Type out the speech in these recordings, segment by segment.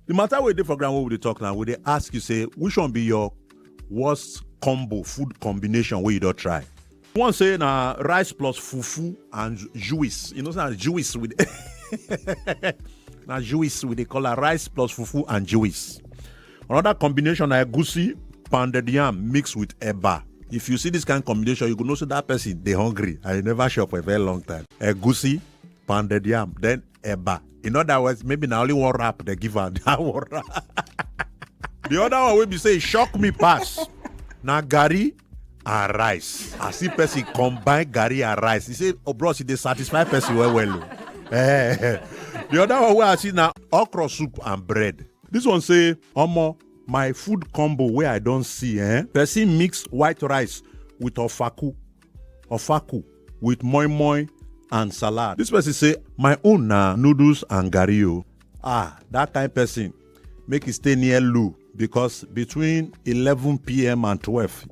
the matter wey dey for ground wey we dey talk now we dey ask you say which one be your worst combo food combination wey you don try one say na rice plus fufu and juice you know say na juice with na juice we dey call am rice plus fufu and juice another combination na egusi pounded yam mixed with eba if you see this kind combination you go know say that person dey hungry and you never chop for a very long time egusi pounded yam then Eba. In other words, maybe now only one rap they give her that one rap. the other one will be say shock me pass. Now Gary and rice. I see person combine Gary and rice. He say, oh bros, they satisfy person well well. Oh. Eh. the other one where I see now okra soup and bread. This one say, Omo, my food combo where I don't see, eh? Person mix white rice with ofaku ofaku with moi moi and salad. This person say, my own na noodles and garri o. Ah, that kind person make e stay near Lou because between 11 p.m. and 12,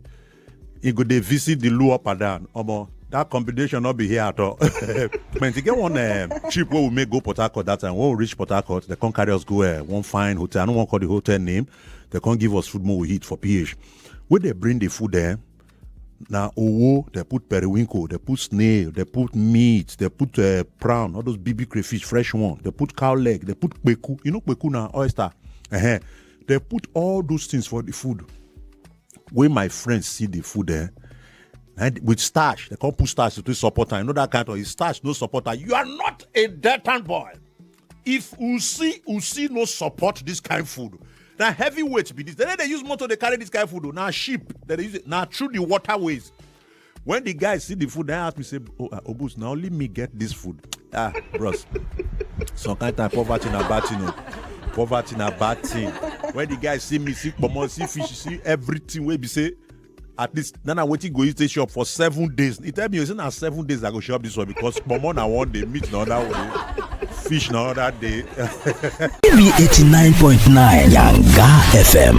e go dey visit the Lou up and down. Omo, that combination no be here at all. But e get one um, trip wey we make go Port Harcourt that time. When we reach Port Harcourt, they come carry us go uh, one fine hotel. I no wan call the hotel name. They come give us food more we eat for PH. When they bring the food there, na owo dem put periwinkle dem put snail dem put meat dem put uh, prawn all those big big crayfish fresh one dem put cow leg dem put kpeku you know kpeku na oyster uh-huh. dem put all those things for the food wey my friends see the food eh and with starch dem come put starch to take support am you know that kind of thing. starch no support am you are not a dirty boy if u see u see no support dis kain food na heavy weight be dis dem no dey use motor dey carry dis kain food o na ship dem dey use it na through the waterways when the guy see the food dem ask me say oh ah, obus na only me get dis food ah bros some kain time poverty na bad thing o poverty na bad thing when the guy see me see kpomo see fish see everything wey be say at least na na wetin go use take shop for seven days he tell me say na seven days i go shop this one because pomo na one day meat na another day fish na another day. tv eighty nine point nine yanga fm.